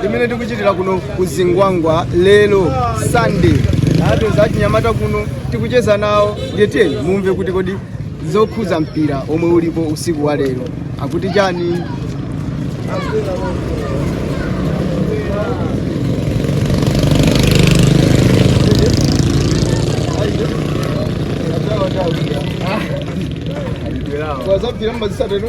limene tikuchitira kuno ku zingwangwa lero sunday tapeza achinyamata kuno tikucheza nawo ndiye tiyeni mumve kuti kodi zokhuza mpira omwe ulipo usiku wa lero akuti chani wazampira mmazisatero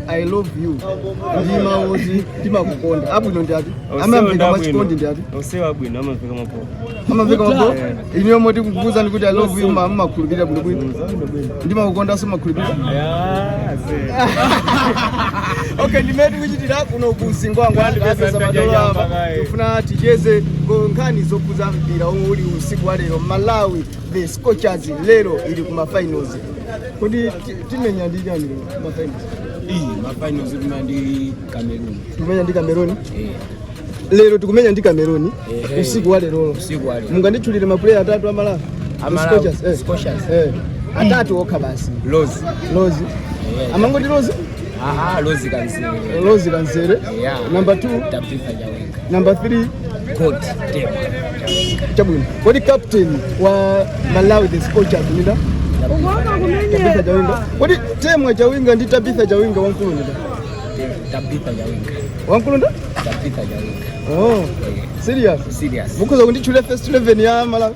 i love you ndi mawu oti timakukonda abwino ndi ati amamveka mwachikondi ndi ati onsewa abwino amamveka mapopo amamveka mapopo iniyo moti kukuuzani kuti i love you ma mmakhulupirira bwinobwino ndimakukondanso mmakhulupirira okay ndimene tikuchitira kuno ku zingwangwa ndapeza madolo apa tifuna ticheze ngo- nkhani zokhudza mpira uli usiku wa lero malawi the scorchers lero ili kuma finals kodi ti- timenya ndi chani lero mafinals iyi mafinals timenya ndi cameroon tikumenya ndi cameroon eh lero tikumenya ndi cameroon Eh, eh. usiku wa lerolo usiku wa lero. munganditchulire mapuleya atatu amalawi Amalawi, Scorchers, eh. Scorchers. Eh. atatu okha basi Rose Rose Eh. amangoti Rose aha Rose Kabzere Rose Kabzere Yeah. number two Tabitha Number 3 ndi Temwa. Chabwino. Kodi captain wa Malawi the Scorchers ndi nda? Tabitha Chawinga. Kodi temwa Chawinga ndi Tabitha Chawinga wamkulu ndi nda? Tabitha Chawinga. Wamkulu nda? Tabitha Chawinga. Oh. Serious. Serious. Mukhoza kunditchulira first 11 ya Malawi.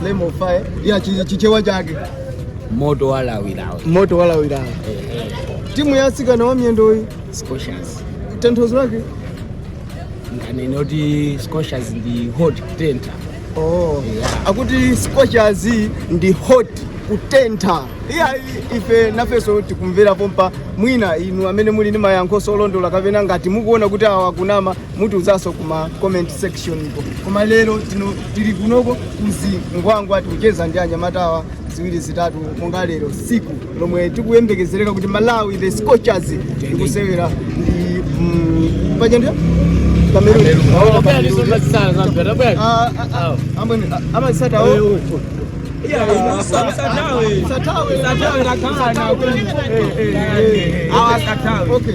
flame of fire ya chi- chichewa chake moto walawilawi moto walawilawi timu ya asikana wa miyendoyi Scorchers tanthauzo lake ndinganene kuti Scorchers ndi hot kutentha oh. Yeah. akuti scorchers ndi hot kutentha iya ife nafenso tikumvera pompa mwina inu amene muli ndi mayankho olondola kapena ngati mukuona kuti awa akunama mutiuzanso kuma comment section iko koma lero tili kunoko ku zingwangwa tikucheza ndi anyamatawa ziwiri zitatu monga lero siku lomwe tikuyembekezereka kuti malawi the scorchers ikusewera ndi mm, paja ndi Cameroon. Oh, Cameroon. Ah, ah, ah, amwene, ah, amasata wo. Satawe. Satawe. Eh, eh, eh. Okay.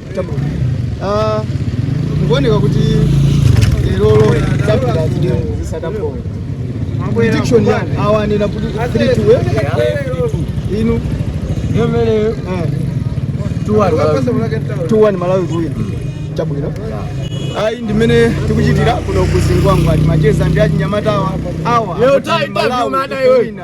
Ah, zikuoneka kuti lerolo Tabitha zideu zisadapoe prediction yanu awa anena kuti 3-2 eh? inu Yomele eh, 2-1 Malawi. 2-1 malawi kuwina chabwino ayi ndimene tikuchitira kuno ku zingwangwa timacheza ndi achinyamatawa awa lero akuti tai, tai, Malawi mada iwe. kuwina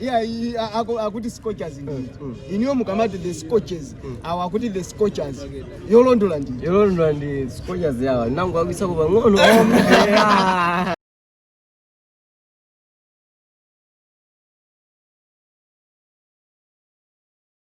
iya iyi a- aku- akuti scorchers ndi iniyo mukamati the scorchers awa akuti the scorchers yolondola ndi yolondola ndi scorchers yawa nangu akwisako pang'ono